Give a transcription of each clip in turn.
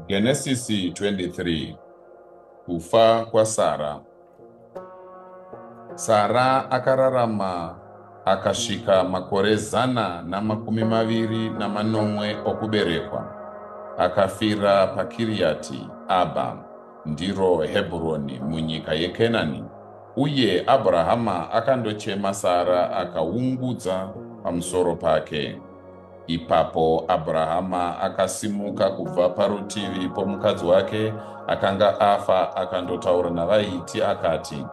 Genesis 23 Kufa kwaSara Sara akararama akasvika makore zana namakumi maviri namanomwe okuberekwa akafira pakiriyati abha ndiro hebhuroni munyika yekenani uye abrahama akandochema sara akaungudza pamusoro pake Ipapo Abrahama akasimuka kubva parutivi pomukadzi wake akanga afa akandotaura navaiti akati,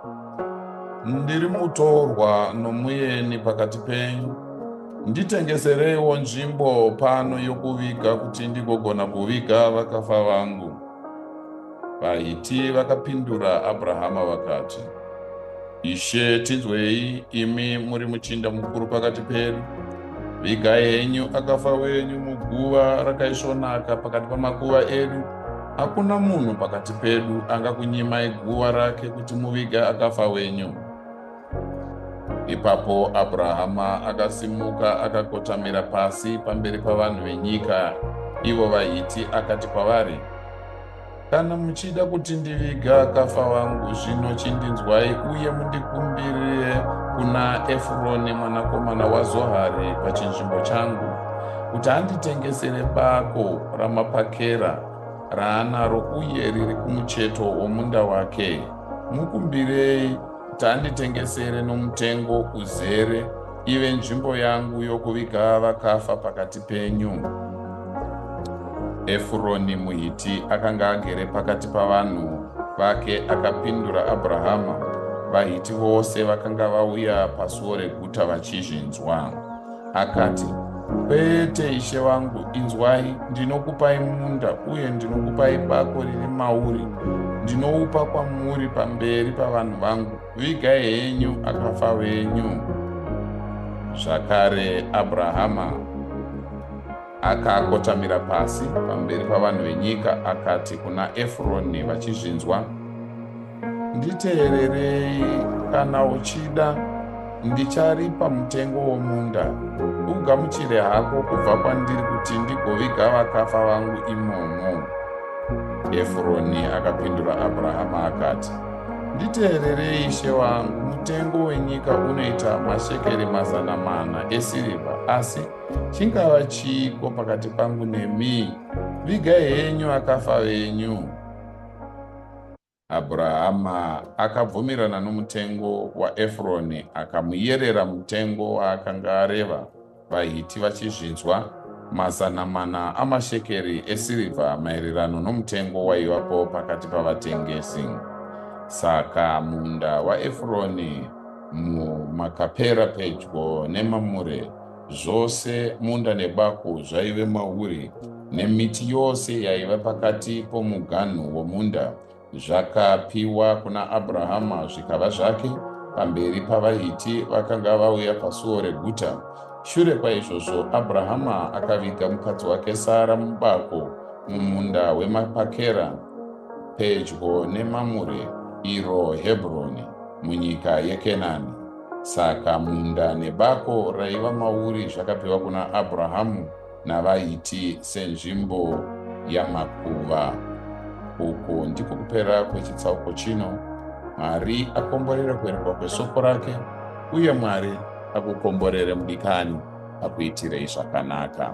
Ndiri mutorwa nomuyeni pakati penyu, nditengesereiwo nzvimbo pano yokuviga kuti ndigogona kuviga vakafa vangu. VaHiti vakapindura Abrahama vakati, Ishe, tinzwei, imi muri muchinda mukuru pakati pedu. Vigai henyu akafa wenyu muguva rakaisvonaka pakati pamakuva edu. Hakuna munhu pakati pedu angakunyimai guva rake kuti muviga akafa wenyu. Ipapo Abrahama akasimuka akakotamira pasi pamberi pavanhu venyika, ivo vaHiti, akati kwavari, Kana muchida kuti ndiviga akafa wangu, zvino chindinzwai uye mundikumbirire kuna Efuroni mwanakomana waZohari pachinzvimbo changu, kuti anditengesere bako ramapakera raanaro uye riri kumucheto womunda wake. Mukumbirei Tanditengesere nomutengo uzere, ive nzvimbo yangu yokuviga vakafa pakati penyu. Efuroni muHiti akanga agere pakati pavanhu vake akapindura Abrahama, vaHiti vose vakanga vauya pasuo reguta vachizvinzwa. Akati, Kwete, ishe wangu, inzwai, ndinokupai munda uye ndinokupai bako riri mauri, ndinoupa kwamuri pamberi pavanhu vangu, vigai henyu akafa venyu. Zvakare, Abrahama Akakotamira pasi pamberi pavanhu venyika akati kuna Efuroni vachizvinzwa, Nditeererei, kana uchida ndicharipa mutengo womunda, ugamuchire hako kubva kwandiri kuti ndigoviga vakafa vangu imomo. Efuroni akapindura Abrahama akati, Nditeererei ishe wangu, mutengo wenyika unoita mashekeri mazana mana esirivha, asi Chingava chiiko pakati pangu nemi? Vigai henyu akafa venyu. Abrahama akabvumirana nomutengo waEfroni akamuyerera mutengo waakanga areva vaHiti vachizvinzwa, mazana mana amashekeri esirivha maererano nomutengo waivapo pakati pavatengesi. Saka munda waEfroni muMakapera pedyo neMamure Zvose munda nebako zvaive mauri, nemiti yose yaiva pakati pomuganhu womunda, zvakapiwa kuna Abrahama zvikava zvake pamberi pavaHiti vakanga vauya pasuo reguta. Shure kwaizvozvo, Abrahama akaviga mukadzi wake Sara mubako mumunda wemapakera pedyo neMamure, iro Hebroni, munyika yeKenani. Saka munda nebako raiva mauri zvakapiwa kuna Abrahamu navaHiti senzvimbo yamakuva. Uku ndiko kupera kwechitsauko chino. Mwari akomborere kuverekwa kwesoko rake, uye Mwari akukomborere mudikani akuitirei zvakanaka.